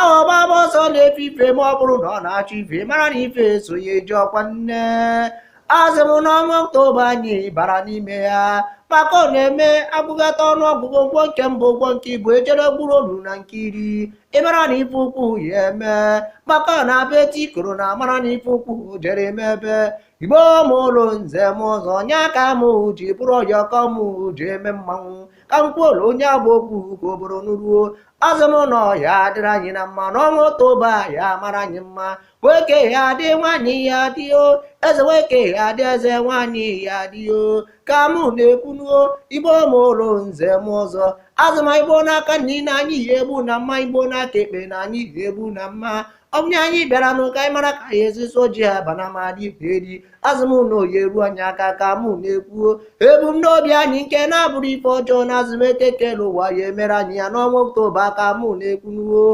awọ gbaba ọsọ n'efifie ma ọ bụrụ na ọ na-achụ ife mara na ife so ya eji ọkwa nne asị m n'ọnwa oktoba anyị bara n'ime ya maka ọ na-eme agụgata ọnụ ọgụgụ a gụọ nke mbụ a gụọ nke ibụọ e jere gụruolu na nke iri ị mara na ife ukwu ya eme maka ọ na-abụ e tie ikoro na a mara na ife ukwu jere eme ebe igbo mụlụ nze mụọ ọzọ nye aka m ji bụrụ ọyọkọ m ji eme mmanwụ ka m kwuola onye abụ okwu ka obodo nụruo asị m na ọ ya adịrị anyị na mma n'ọnwa oktoba ọ ya amara anyị mma nwoke ya adị nwaanyị ya adị o eze nwoke ya adị eze nwaanyị ya adị o ka mụ na-ekwunuo igbo mụlụ nze mụọ ọzọ asị m e gbuo n'aka nni na anyị ya egbu na mma e gbuo n'aka ekpe na anyị ya egbu na mma ọ bụrụ anyị bịara nụ ka anyị mara ka anyị esi so ji abana ma dị ife eri asị m na ọ ya eru anyị aka ka mụ na-ekwuo ebumnobi anyị nke na-abụrọ ife ọjọọ na asị m eke kelụ ụwa ya emere anyị ya n'ọnwa oktoba ka mụ na-ekwunuo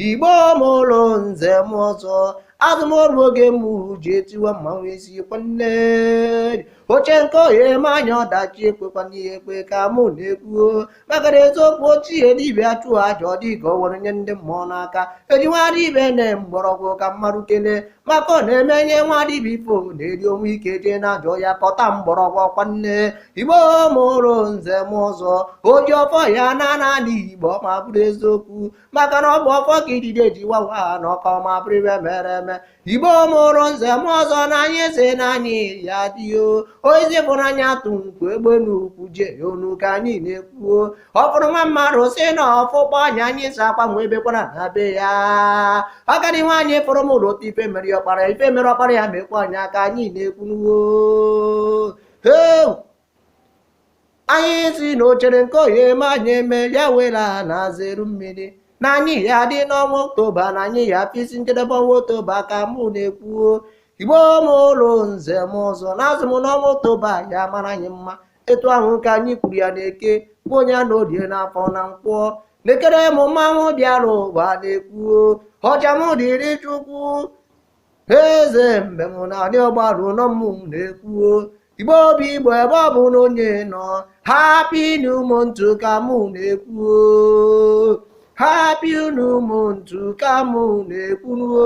igbo mụlụ nze mụọ ọzọ asị m o ruo oge mụ ji etiwa mmanwụ isi kwanne o che nke ọ ya eme anyị ọdachi ekwekwana ya ekwe ka mụ na-ekwuo maka na eziokwu ochie dibịa chụọ aja ọ dị ka o were nye ndị mmụọ n'aka eji nwa dibịa na mgbọrọgwụ ka mmadụ kelee maka ọ na-eme e nye nwa dibịa ife ọ na-eri o nwee ike jee n'ajọ ọhịa kpata mgbọrọgwụ ọkwa nne igbo mụrụ nze mụọ ọzọ oji ọfọ ya ana anị igbo ma bụrụ eziokwu maka na ọ bụ ọfọ ka idide ji wawa ana ọkọ ma bụrụ ife mere eme igbo mụrụ nze mụọ ọzọ na anyị sị na anyị ya adị o ozi bụrụ anya atụ nkwu egbe n'ukwu jee onu ka anyị na-ekwuo ọ fụrụ nwa mmadụ sị na ọ fụkpọọ anya anyị sị akwa nwa ebekwana na be ya agadi nwaanyị fụrụ m ụlọ otu ife mere ọkpara ife mere ọkpara ya mekwaa ya ka anyị na-ekwunuo anyị sị na o chere nke ọ ya eme anyị eme ya wela na azụ eru mmiri na anyị ya dị n'ọnwa oktoba na anyị ya afụ isi njedebe ọnwa oktoba ka mụ na-ekwuo igbo mụlụ nze mụọ ọzọ na asị m n'ọnwa oktoba ya amara anyị mma etu ahụ ka anyị kwuru ya n'eke kwuo ya n'orie n'afọ na nkwọ lekere m mmanwụ bịara ụwa na-ekwuo ọja m dịrị chukwu eze mbem n'anị ọgbaru nọ mụ na-ekwuo igbo bụ igbo ebe ọbụna onye nọ happy new month ka mụ na-ekwuo happy new month ka mụ na-ekwuo